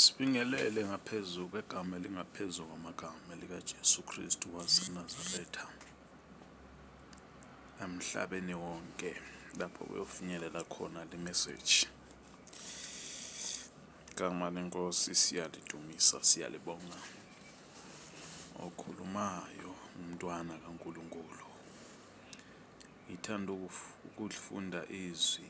Sibingelele ngaphezu kwegama elingaphezu kwamagama likaJesu Kristu waseNazaretha emhlabeni wonke lapho kuyofinyelela khona le message. Igama lenkosi siyalidumisa, siyalibonga. Okhulumayo umntwana kaNkulunkulu. Ngithanda ukufunda izwi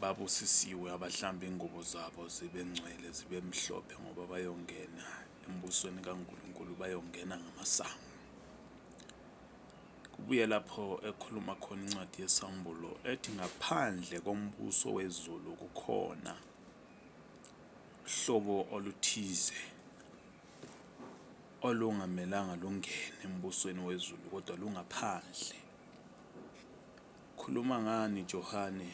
Babusisiwe abahlamba ingubo zabo zibe ngcwele zibe mhlophe ngoba bayongena embusweni kaNkulunkulu bayongena ngamasango. Kubuye lapho ekhuluma khona incwadi yesAmbulo ethi ngaphandle kombuso wezulu kukhona uhlobo oluthize olungamelanga lungene embusweni wezulu kodwa lungaphandle. Ukhuluma ngani Johane?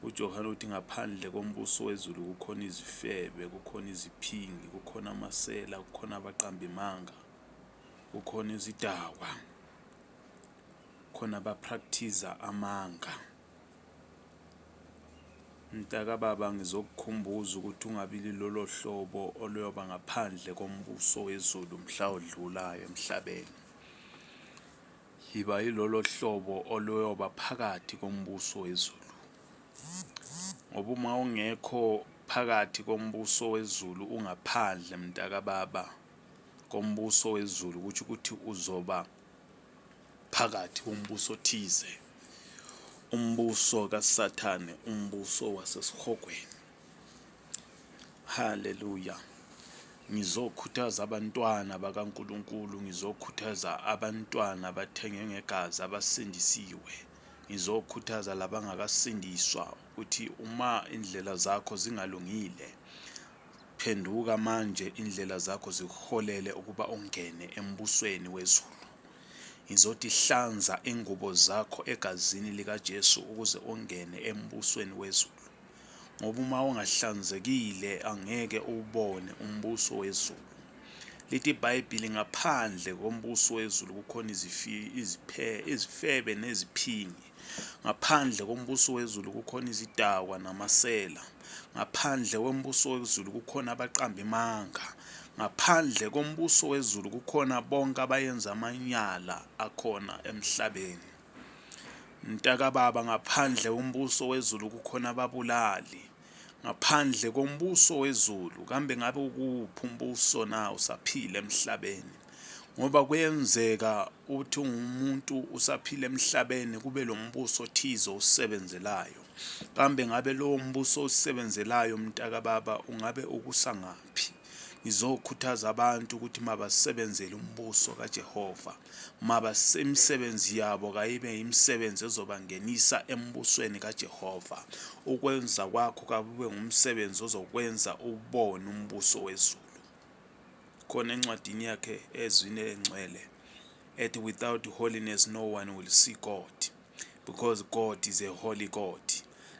UJohane uthi ngaphandle kombuso wezulu kukhona izifebe, kukhona iziphingi, kukhona amasela, kukhona abaqambimanga, kukhona izidakwa, khona abaprakthiza amanga. Mntakababa ngizokukhumbuza ukuthi ungabi lilolo hlobo oluyoba ngaphandle kombuso wezulu mhla odlulayo emhlabeni. Yiba yilolo hlobo oluyoba phakathi kombuso wezulu. Ngoba uma ungekho phakathi kombuso wezulu ungaphandle mntakababa kombuso wezulu ukuthi ukuthi uzoba phakathi kombuso othize. Umbuso kaSathane, umbuso wasesihogweni. Haleluya. Ngizokhuthaza abantwana bakaNkulunkulu, ngizokhuthaza abantwana abathenge ngegazi abasindisiwe. Ngizokhuthaza labangakasindiswa ukuthi uma indlela zakho zingalungile phenduka manje indlela zakho zikuholele ukuba ungene embusweni wezulu. Ngizothi hlanza ingubo zakho egazini likaJesu ukuze ungene embusweni wezulu. ngoba uma ungahlanzekile angeke uwubone umbuso wezulu. Lithi iBhayibhili ngaphandle kombuso wezulu kukhona izifebe neziphingi. Ngaphandle kombuso wezulu kukhona izidakwa namasela. Ngaphandle kombuso wezulu kukhona abaqamba imanga. Ngaphandle kombuso wezulu kukhona bonke abayenza amanyala akhona emhlabeni. Mntakababa ngaphandle kombuso wezulu kukhona ababulali ngaphandle kombuso wezulu kambe ngabe ukuphi umbuso na usaphila emhlabeni ngoba kuyenzeka uthi umuntu usaphila emhlabeni kube lo mbuso othize osebenzelayo kambe ngabe lowo mbuso osebenzelayo mntakababa ungabe ukusangaphi ngizokhuthaza abantu ukuthi mabasebenzele umbuso kaJehova Mabasemisebenzi yabo kayibe yimisebenzi ezobangenisa embusweni kaJehova. Ukwenza kwakho kakube ngumsebenzi ozokwenza ubone umbuso wezulu. Khona encwadini yakhe ezwini elengcwele ethi without holiness no one will see God because God is a holy God.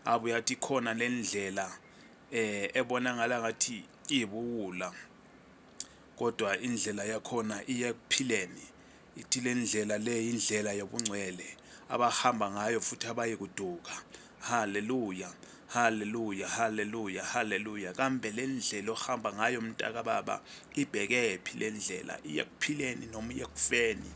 Abuye athi khona lendlela eh ebonakala ngathi ibuwula Kodwa indlela yakhona iya ekuphileni. Ithi le ndlela le yindlela yobungcwele abahamba ngayo futhi abayikuduka. Haleluya! Haleluya! Haleluya! Haleluya! Kambe le ndlela ohamba ngayo mntakababa ibhekephi le ndlela? Iya ekuphileni noma iya ekufeni?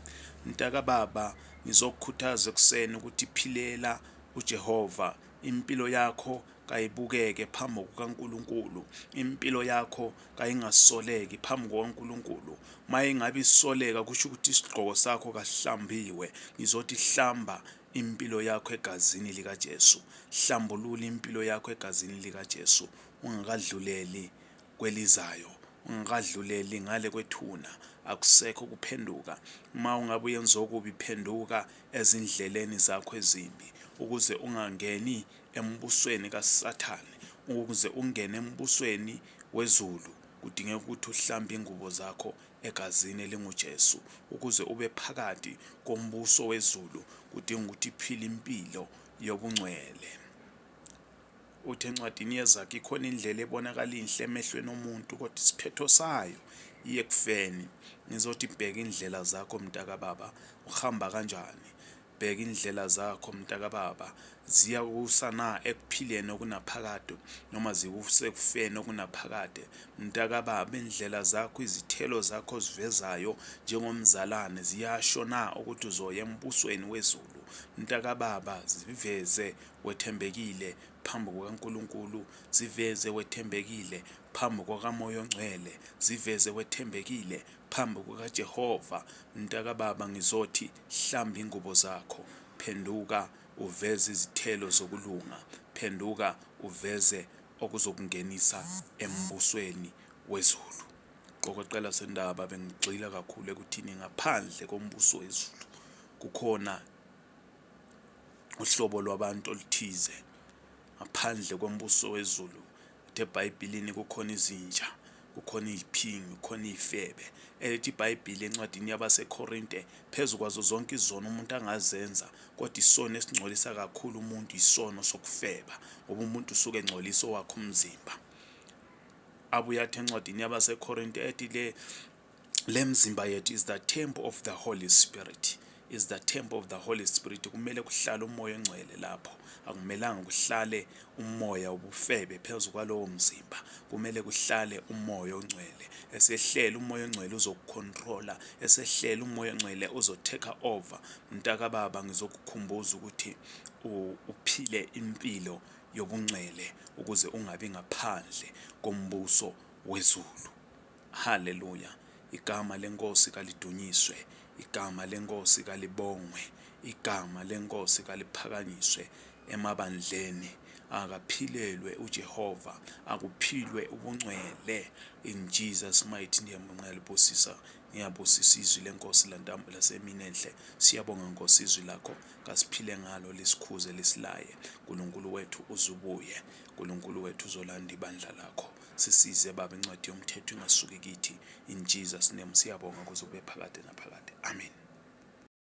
Mntakababa, ngizokukhuthaza ekuseni ukuthi philela uJehova impilo yakho kayibukeke phambi kukaNkulunkulu impilo yakho kayingasoleki phambi kukaNkulunkulu mayingabe isoleka kusho ukuthi isigqoko sakho kahlambiwe ngizothi hlamba impilo yakho egazini likaJesu hlambulula impilo yakho egazini likaJesu ungakadluleli kwelizayo ungakadluleli ngale kwethuna akusekho kuphenduka uma ungabe uyenza okubi phenduka ezindleleni zakho ezimbi ukuze ungangeni embusweni kaSathane. Ukuze ungene embusweni wezulu, kudingeka ukuthi uhlambe ingubo zakho egazini elinguJesu. Ukuze ube phakathi kombuso wezulu, kudinga ukuthi phile impilo yobungcwele. Uthi encwadini yezakhe ikhona indlela ebonakala inhle emehlweni omuntu kodwa isiphetho sayo iye ekufeni. Ngizothi bheka indlela zakho mntakababa, uhamba kanjani? Bheka indlela zakho mntakababa, ziyakusa na ekuphileni okunaphakade noma zikuse ekufeni okunaphakade? Mntakababa, indlela zakho, izithelo zakho ozivezayo njengomzalane ziyasho na ukuthi uzoya embusweni wezulu? Mntakababa, ziveze wethembekile phambi kukaNkulunkulu, ziveze wethembekile phambi kwakaMoya oNgcwele, ziveze wethembekile Phambi kukaJehova, mntakababa, ngizothi, Hlamba ingubo zakho. Phenduka uveze izithelo zokulunga. Phenduka uveze okuzokungenisa embusweni wezulu. Qokoqela sendaba bengigxila kakhulu ekuthini ngaphandle kombuso wezulu kukhona uhlobo lwabantu oluthize ngaphandle kombuso wezulu Uthe eBhayibhelini kukhona izinja, kukhona iziphingi, kukhona izifebe. Elithi iBhayibheli encwadini yabaseKorinte, phezu kwazo zonke izono umuntu angazenza, kodwa isono esingcolisa kakhulu umuntu isono sokufeba, ngoba umuntu usuke engcolisa owakhe umzimba. Abuye athi encwadini yabaseKorinte ethi le le mzimba yethu is the temple of the holy spirit is the temple of the holy spirit kumele kuhlale umoya ongcwele lapho akumelanga kuhlale umoya ubufebe phezu kwalowo mzimba kumele kuhlale umoya ongcwele esehlela umoya ongcwele uzokucontrola esehlela umoya ongcwele uzotake over mntaka baba ngizokukhumbuza ukuthi uphile impilo yobungcwele ukuze ungabi ngaphandle kombuso wezulu Haleluya! Igama leNkosi kalidunyiswe, igama leNkosi kalibongwe, igama leNkosi kaliphakanyiswe emabandleni. Akaphilelwe uJehova, akuphilwe ubungcwele in Jesus mighty name. Ngiyalibusisa, ngiyabusisa izwi leNkosi lantamba lasemini enhle. Siyabonga Nkosi izwi lakho, kasiphile ngalo lisikhuze lisilaye. Nkulunkulu wethu uzubuye, Nkulunkulu wethu uzolanda ibandla lakho. Sisize Baba incwadi yomthetho ingasuki kithi in Jesus name siyabonga kuze kube phakade naphakade. Amen.